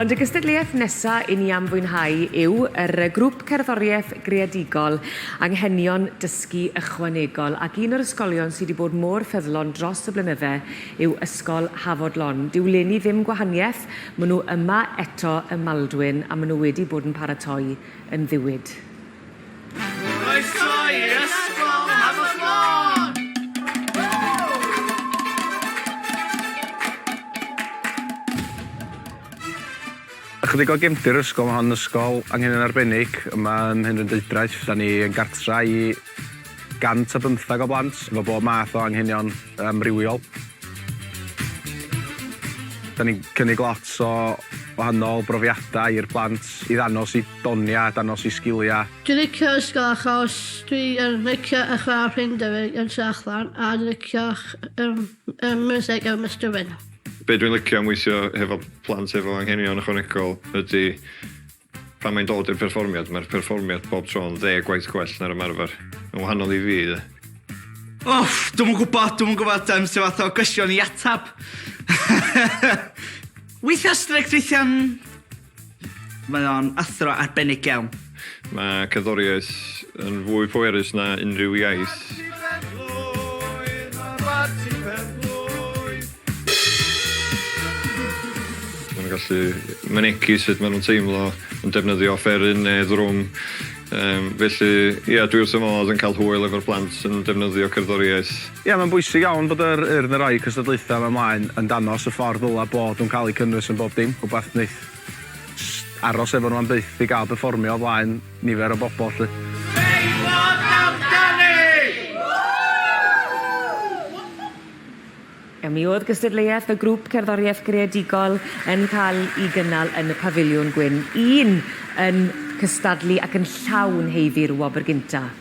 Ond y gystadleuaeth nesa i ni am fwynhau yw yr grŵp cerddoriaeth greadigol Anghenion Dysgu Ychwanegol ac un o'r ysgolion sy' 'di bod mor ffyddlon dros y blynydde yw Ysgol Hafod Lon. Dyw leni ddim gwahaniaeth, ma' nhw yma eto ym Maldwyn a ma' nhw wedi bod yn paratoi yn ddiwyd. Croeso i'r ysgol Hafod Lôn! Ychydig o gefndir yr ysgol, ma' hon yn ysgol angen yn arbennig yma ym Mhenrhyndeudraeth, 'dan ni yn gartra i 115 o blant efo bob math o anghenion amrywiol. Da ni'n cynnig lot o wahanol brofiadau i'r plant i ddanos i doniau, danos i sgiliau. Dwi licio ysgol achos dwi yn licio y chwarae rhing dyfu yn tu allan a dwi licio y music yn Mister Wyn. Be dwi'n licio am weithio hefo plant efo anghenion ychwanegol ydy Pan mae'n dod i'r perfformiad, mae'r perfformiad bob tro yn ddeg gwaith gwell na'r ymarfer. Yn wahanol i fi, de. Uff, dwi'm yn gwybod, dwi'm yn gwybod um, sy'n fath o gwestiwn i atab. weithiau strict, weithiau... Mae o'n athro arbennig iawn. Mae cerddoriaeth yn fwy pwerus na unrhyw iaith. Maen nhw'n gallu mynegi sut maen nhw'n teimlo yn defnyddio offeryn neu ddrwm. Yym felly ia dwi wrth fy modd yn cael hwyl efo'r plant yn defnyddio cerddoriaeth. Ia mae'n bwysig iawn bod yr Urdd yn rhoi cystadlaethau yma mlaen yn danos y ffordd ddylai bod nhw'n cael eu cynnwys yn bob dim, rhywbeth wneith jyst aros efo nhw am byth i gael perfformio o flaen nifer o bobl 'lly. Steddfod amdani! A mi oedd gystadleuaeth y grŵp cerddoriaeth greadigol yn cael ei gynnal yn y Pafiliwn Gwyn 1 yn cystadlu ac yn llawn heiddi'r wobr gyntaf.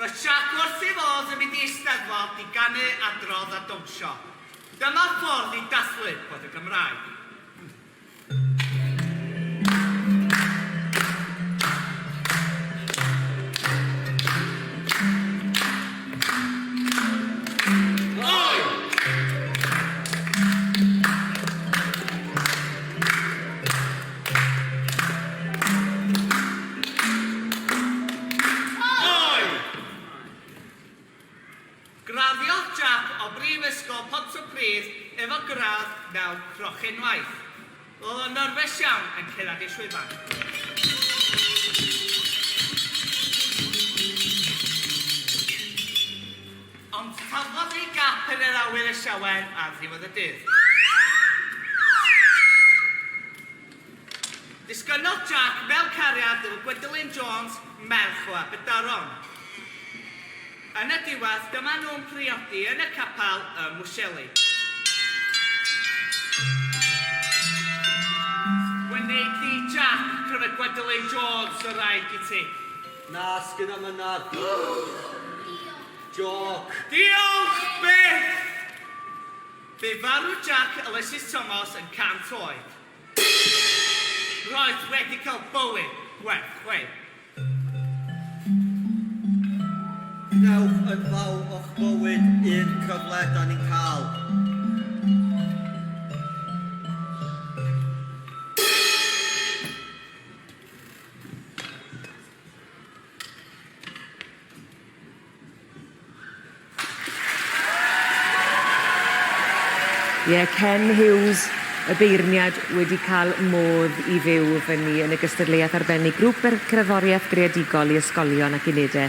Roedd Jac wrth ei fodd yn mynd i Eisteddfod i ganu, adrodd a dawnsio. Dyma ffordd i dathlu bod y Gymraeg. Graddiodd Jack o Brifysgol Pontypridd efo gradd mewn Crochenwaith. Roedd o'n nyrfys iawn yn cyrraedd ei llwyfan. Ond cafodd ei gap yn yr awyr y siower ar ddiwedd y dydd. Disgynnodd Jack mewn cariad efo Gwendolyn Jones, merch o Aberdaron. Yn y diwedd, dyma nhw'n priodi yn y capel ym Mwseli. Wneith Jack pryfed Gwendolyn Jones y wraig i ti. Na, sgynna mynad. Diolch. Joc. Diolch byth! Bu farw Jack Ulysses Thomas yn 100 oed. Roedd wedi cael bywyd gwerth chweil. Gwnewch yn fawr o'ch bywyd un cyfle 'dan ni'n cael. Ie, Ken Hughes, y beirniad wedi cael modd i fyw fyny yn y gystadleuaeth arbennig Grŵp yr Cerddoriaeth Greadigol i Ysgolion ac Unedau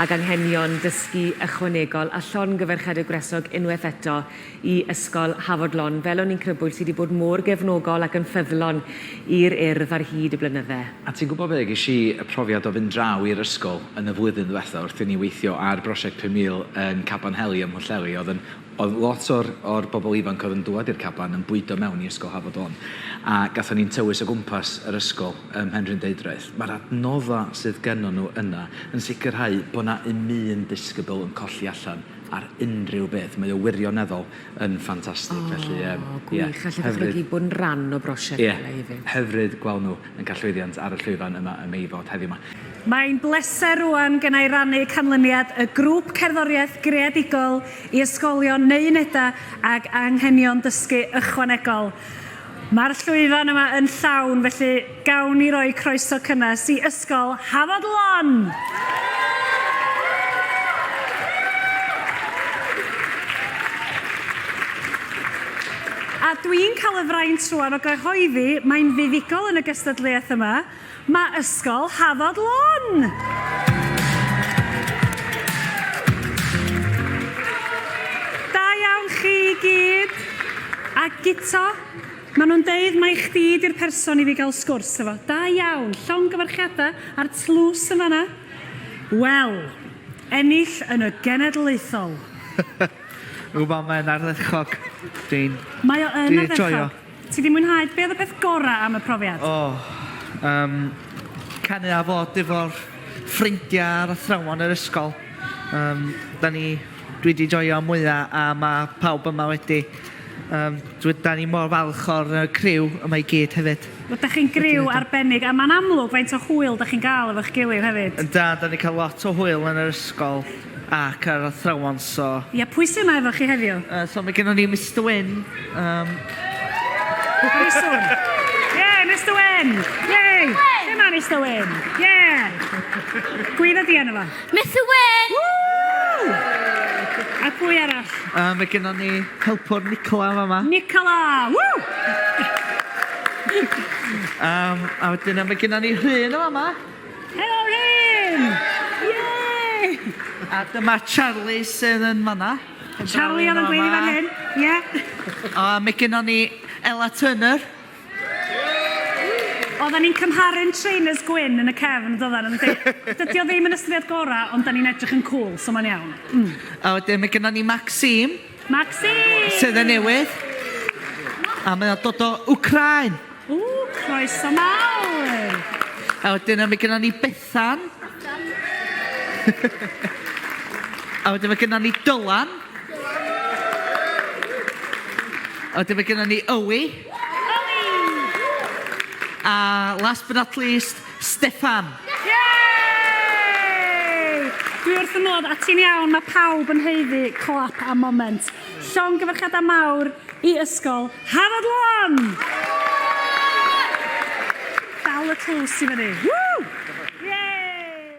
ag Anghenion Dysgu Ychwanegol a Llongyfarchiadau Gwresog unwaith eto i Ysgol Hafod Lon fel o'n i'n crybwyll sy 'di bod mor gefnogol ac yn ffyddlon i'r Urdd ar hyd y blynydde. A ti'n gwybod be, ges i y profiad o fynd draw i'r ysgol yn y flwyddyn ddwetha wrth i ni weithio ar brosiect Pum Mil yn Caban Heli ym Mhwllheli, oedd yn, oedd lot o'r o'r bobl ifanc oedd yn dŵad i'r caban yn bwydo mewn i Ysgol Hafod Lon a gathon ni'n tywys o gwmpas yr ysgol ym Mhenrhyn Deudraeth. Mae'r adnodda sydd gennon nhw yna yn sicrhau bod 'na 'im un disgybl yn colli allan ar unrhyw beth. Mae o wirioneddol yn ffantastig. Felly, yym, ie. O, gwych. Allai ddychmygu bod yn rhan o brosiect fel e hefyd. Ie. Hyfryd gweld nhw yn cael llwyddiant ar y llwyfan yma ym Meifod heddiw 'ma. Mae'n bleser rŵan gennai rannu canlyniad y Grŵp Cerddoriaeth Greadigol i Ysgolion neu Unedau ag Anghenion Dysgu Ychwanegol. Mae'r llwyfan yma yn llawn, felly gawn ni roi croeso cynnes i Ysgol Hafod Lon! A dwi'n cael y fraint rwan o gyhoeddi mae'n fuddugol yn y gystadleuaeth yma, Mae Ysgol Hafod Lon! Da iawn chi i gyd! A Guto, maen nhw'n deud mai chdi di'r person i fi gael sgwrs efo. Da iawn! Llongyfarchiadau a'r tlws yn fanna. Wel, ennill yn y genedlaethol! Ww, mae o'n ardderchog. Dwi'n... Mae o yn ardderchog. Ti di mwynhau? Be oedd y peth gorau am y profiad? O, um, canu a fod efo'r ffrindiau a'r athrawon yr ysgol. Um, da ni, dwi di joio mwya a mae pawb yma wedi. Um, dwi, da ni mor falch o'r uh, criw yma i gyd hefyd. Wel, da chi'n griw arbennig a mae'n amlwg faint o hwyl da chi'n gael efo'ch gilydd hefyd. Da, da ni cael lot o hwyl yn yr ysgol. Ac yr athrawon, so. Ia, pwy sy' 'ma efo chi heddiw? Yy, so mae gennon ni Mister Wyn, yym. Very soon. Ie, Mister Wyn! Yay! Lle ma' Mister Wyn? Ie! Gwydda di arno fo. Mister Wyn! Woo! A pwy arall? Yy, mae gennon ni helpwr Nicola yn fama. Nicola! Woo! Yym, a wedyn yy mae gennon ni Rhun yn fama. Helo Rhyn! Yay! A dyma Charlie sydd yn fanna. Charlie oedd yn gweiddi fan hyn, ie. A mae gennon ni Ella Turner. Oedden ni'n cymharu'n trainers gwyn yn y cefn, yn doedden, yn di? Dydy o ddim yn ystyried gorau, ond da ni'n edrych yn cŵl, so mae'n iawn. Mm. A wedyn mae gennon ni Maxime. Maxine! Sydd yn newydd. A mae o'n dod o Wcrain. O, croeso mawr! A wedyn mae gennym ni Bethan. A wedyn mae gennym ni Dylan. A wedyn mae gennym ni Ywi. Ywi! A last but not least, Steffan. Yay! Dwi wrth fy modd, a ti'n iawn, mae pawb yn haeddu clap am moment. Llongyfarchiadau mawr i Ysgol Hafod Lon! Dal y tlws i fyny. Woo! Yay!